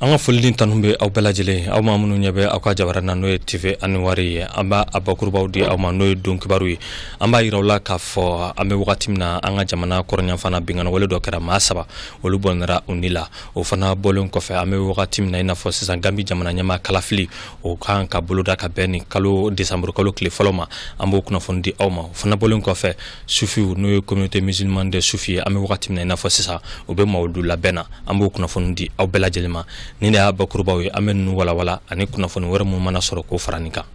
an ka foli ni tanu bɛ aw bɛɛ lajɛlen aw maa minnu ɲɛ bɛ aw ka jabara na n'o ye tv anuwar ye an b'a a bakurubaw di aw ma n'o ye don kibaru ye an b'a yira aw la k'a fɔ an bɛ wagati min na an ka jamana kɔrɔnyanfana binkanniwale dɔ kɛra maa saba olu bɔnɛra u ni la o fana bɔlen kɔfɛ an bɛ wagati min na i n'a fɔ sisan gambi jamana ɲɛmaa kalafili o kan ka boloda ka bɛn nin kalo desanburukalo tile fɔlɔ ma an b'o kunnafoni di aw ma o fana bɔlen kɔfɛ sufiw n'o ye communauté musulmane de sufi ye an bɛ wagati min na i n'a fɔ sisan u bɛ mawudu labɛn na an b'o kunnafoni di aw bɛɛ lajɛlen ma nin de y'a bakurubaw ye an bɛ ninnu walawala ani kunnafoni wɛrɛ minnu mana sɔrɔ k'o fara nin kan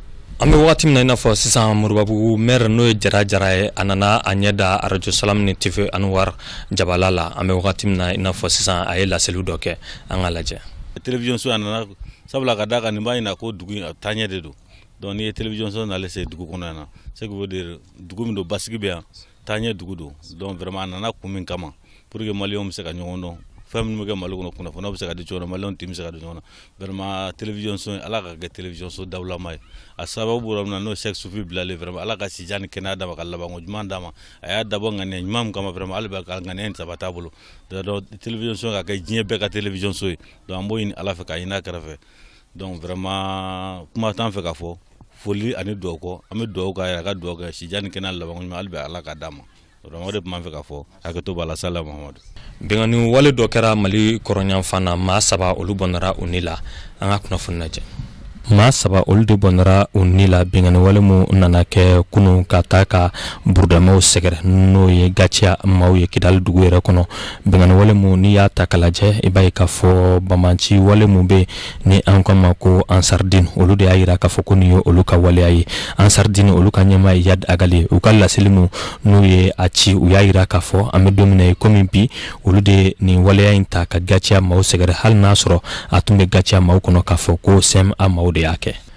an bɛ wagati min na i n'a fɔ sisan moribabugu maire n'o ye jara jara ye a nana a ɲɛ da arajo salam ni tv anuwar jabala la an bɛ wagati min na i n'a fɔ sisan a ye laseli dɔ kɛ an k'a lajɛ télévision so a nana sabula ka d'a kan nin b'a ɲina ko dugu in a taaɲɛ de don donc n'i ye télévision so nalen se dugu kɔnɔ yan na ce qui veut dire dugu min don basigi bɛ yan taa ɲɛ dugu don donc vraiment a nana kun min kama pur que maliens bɛ se ka ɲɔgɔn dɔn fɛn minnu bɛ kɛ mali kɔnɔ kunnafoni bɛ se ka di cogo mali tɛ bɛ se ka di ɲɔgɔn vraiment télévision so ala k'a kɛ télévision so dawulama ye a sababu bɔra min na n'o sɛki sufi bilali vraiment ala ka sijan ni kɛnɛya d'a ma ka laban ko ɲuman d'a ma a y'a dabɔ ŋaniya ɲuman kama vraiment hali bi ka ŋaniya in sabati a bolo télévision so ka kɛ diɲɛ bɛɛ ka télévision so ye donc an b'o ɲini ala fɛ ka ɲini a kira fɛ Donc vraiment kuma t'an fɛ ka fɔ foli ani dugawu kɔ an bɛ dugawu k'a ye a ka dugawu kɛ sijan ni kɛnɛya laban ko ɲuman hali bi Ala k'a d'a ma vraiment o de tun b'an fɛ ka fɔ hakɛto b'a la salalahu Mahamadu. Binkanniwale dɔ kɛra Mali kɔrɔnyanfan na maa saba olu bɔnɛra u ni la an ka kunnafoni lajɛ. maa saba olu de bɔnɛra u ni la binkanniwale min nana kɛ kunu ka taa ka burudamɛw sɛgɛrɛ n'o ye gaciya maaw ye kidali dugu yɛrɛ kɔnɔ Binkanniwale min n'i y'a ta k'a lajɛ i b'a ye k'a fɔ banbaanci wale minnu bɛ ni an k'u ma ko ansardine olu de y'a yira k'a fɔ ko nin ye olu ka waleya ye ansardine olu ka ɲɛmaa ye iyad ag ali ye u ka laseli min n'u ye a ci u y'a yira k'a fɔ an bɛ don min na i komi bi olu de nin waleya in ta ka gaciya maaw sɛgɛrɛ hali n y'a sɔrɔ a tun bɛ gaciya maaw kɔnɔ k'a fɔ ko cma maaw de y'a kɛ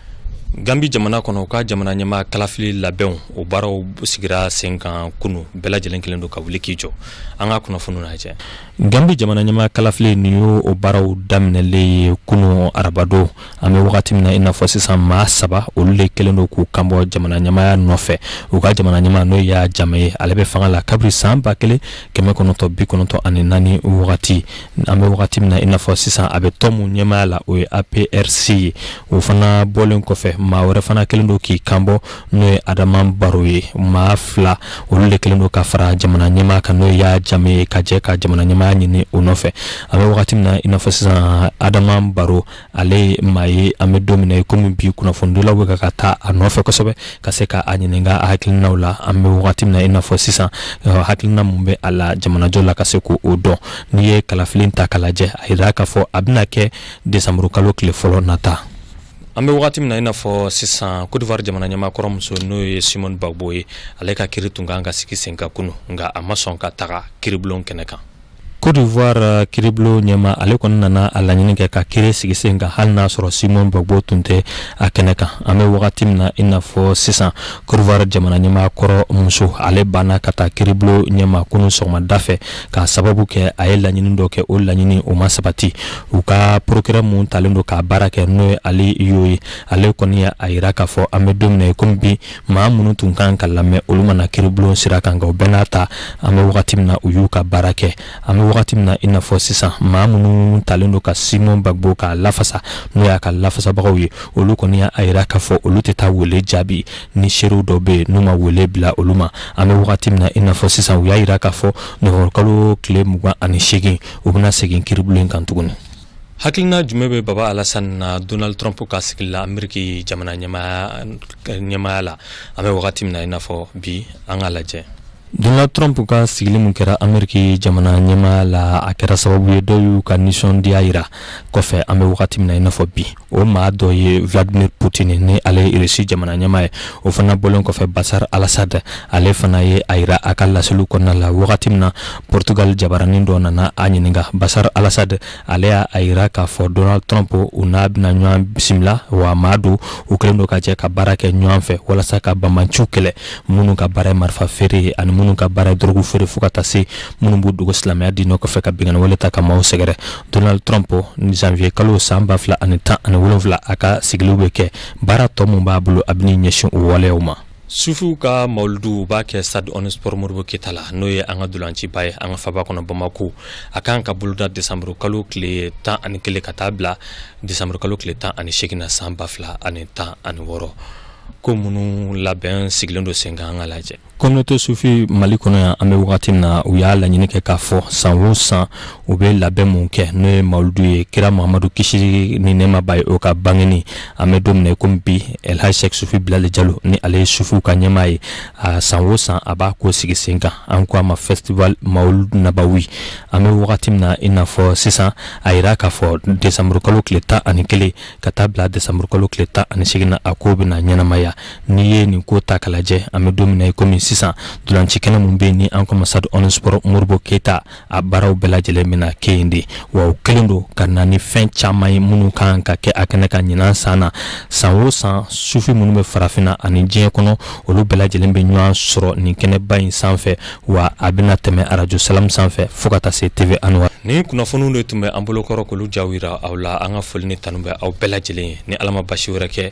Gambi jamana kɔnɔ u ka jamana ɲɛmaa kalafili labɛnw o baaraw sigira sen kan kunu bɛɛ lajɛlen kelen don ka wuli k'i jɔ an ka kunnafoni lajɛ gambi jamana ɲɛmaa kalafili nin ye o baaraw daminɛlen ye kunu arabadon an bɛ wagati min na i n'a fɔ sisan maa saba olu de kelen don k'u kanbɔ jamana ɲɛmaya nɔfɛ u ka jamana ɲɛmaa n'o yaya jame ye ale bɛ fanga la kabiri san ba kelen kɛmɛ kɔnɔntɔn bi kɔnɔntɔn ani naani wagati an bɛ wagati min na i n'a fɔ sisan a bɛ tɔn min ɲɛmaya la o ye aprc ye o fana bɔlen kɔfɛ maa wɛrɛ fana kelen don k'i kanbɔ n'o ye adama baro ye maa fila olu de kelen don ka fara jamana ɲɛmaa kan n'o yaya jame ye ka jɛ ka jamana ɲɛmaya ɲini o nɔfɛ an bɛ wagati min na i n'a fɔ sisan adama baro ale maa ye an bɛ don min na i komi bi kunnafonidilaw bɛ ka ka taa a nɔfɛ kosɛbɛ ka se k'a ɲininka a hakilinaw la an bɛ wagati min i n'a fɔ sisan hakilina min bɛ a la jamanajɔ la ka se k' o dɔn n'i ye kalafili ta ka lajɛ a yira k'a fɔ a bɛna kɛ desanburukalo tile fɔlɔ nata an bɛ wagati min na i n'a fɔ sisan cote d'ivoire jamana ɲɛmaa kɔrɔmuso n'o ye simon gbagbo ye ale ka kiri tun kan ka sigi sen kan kunun nka a ma sɔn ka taga kiribulon kɛnɛ kan Cote d'Ivoire euh, kiribulon ɲɛmaa ale kɔni nana a laɲini kɛ ka kiri sigi sen kan hali n'a sɔrɔ Simon Gbagbo tun tɛ a kɛnɛ kan an bɛ wagati min na i n'a fɔ sisan Cote d'Ivoire jamana ɲɛmaa kɔrɔ muso ale banna ka taa kiribulon ɲɛma kunu sɔgɔmada fɛ k'a sababu kɛ a ye laɲini dɔ kɛ o laɲini o ma sabati u ka procureur mun talen don k'a baara kɛ n'o ye Ali Yeo ye ale kɔni y'a yira k'a fɔ an bɛ don min na i komi bi maa minnu tun kan ka lamɛn olu ma na kiribulon sira kan nka o bɛɛ n'a ta an bɛ wagati min na u y'u ka baara kɛ an bɛ wagati min na i n'a fɔ sisan maa minnu talen don ka simon gbagbo k'a lafasa n'o y'a ka lafasabagaw ye olu kɔni y'a yira k'a fɔ olu tɛ taa wele jaabi ni seerew dɔ bɛ yen n'u ma wele bila olu ma an bɛ wagati min na i n'a fɔ sisan u y'a yira k'a fɔ nowanburukalo tile mugan ani seegin u bɛna segin kiribulon kan tuguni hakilina jumɛn bɛ baba alasan na donald trump ka sigili la ameriki jamana ɲɛmaya la an bɛ wagati min na i n'a fɔ bi an ka lajɛ donald trump ka sigili min kɛra ameriki jamana ɲɛmaya la a kɛra sababu ye dɔw y'u ka nisɔndiya yira kɔfɛ an bɛ wagati min na i n'a fɔ bi o maa dɔ ye vladimir putin ni ale ye irisi jamana ɲɛmaa ye o fana bɔlen kɔfɛ basar alasad ale fana ye a yira a ka laseliw kɔnɔna la wagati min na portugal jabaranin dɔ nana a ɲininka basar alasad ale y'a yira k'a fɔ donald trump u n'a bɛna ɲɔgɔn bisimila wa maa don u kɛlen don ka jɛ ka baara kɛ ɲɔgɔn fɛ walasa ka banbaanciw kɛlɛ minnu ka baara ye marifa feere ye ani minnu ka baara ye dɔrɔgu feere fo ka taa se minnu b'u dogo silamɛya diinɛ kɔfɛ ka binkanni wale ta ka maaw sɛgɛrɛ Donald Trump ni janvier kalo san 2017 a ka sigiliw bɛ kɛ baara tɔ min b'a bolo a bɛn'i ɲɛsin o waleyaw ma. Sufiw ka mawuludu u b'a kɛ Stade Omnisport Modibo Keyita la n'o ye an ka dolanciba ye an ka faba kɔnɔ Bamako a kan ka boloda décembre kalo tile tan ani kelen ka taa bila décembre kalo tile tan ani seegin na san ba fila ani tan ani wɔɔrɔ ko minnu labɛn sigilen don senkan an ka lajɛ communauté sufi mali kɔnɔ yan an bɛ wagati min na u y'a laɲini kɛ k'a fɔ san o san u bɛ labɛn mun kɛ n'o ye mawuludu ye kira mahamadu kisi ni nɛɛma b'a ye o ka bangeni an bɛ don min na komi bi elhaj sek sufi bilali jalo ni ale ye sufiw ka ɲɛmaa ye a san o san a b'a ko sigi sen kan an ko a ma festival mawulud nabawi an bɛ wagati min na i n'a fɔ sisan a yira k'a fɔ desanburukalo tile tan ani kelen ka taa bila desanburukalo tile tan ani seegin na a ko bɛna ɲɛnamaya N'i ye nin ko ta k'a lajɛ an bɛ don min na kɔmi sisan ntolaci kɛnɛ min bɛ yen ni an k'a ma Stade Omnisport Modibo keyita a baaraw bɛɛ lajɛlen bɛna kɛ yen de wa o kɛlen don ka na ni fɛn caman ye minnu kan ka kɛ a kɛnɛ kan ɲinan san na san o san sufi minnu bɛ farafinna ani diɲɛ kɔnɔ olu bɛɛ lajɛlen bɛ ɲɔgɔn sɔrɔ nin kɛnɛba in sanfɛ wa a bɛna tɛmɛ arajo Salamu sanfɛ fo ka taa se TV Anwar nin kunnafoniw de tun bɛ an bolokɔrɔ k'olu ja jira aw la an ka foli ni tanu bɛ aw bɛɛ lajɛlen ye ni ala ma baasi wɛrɛ kɛ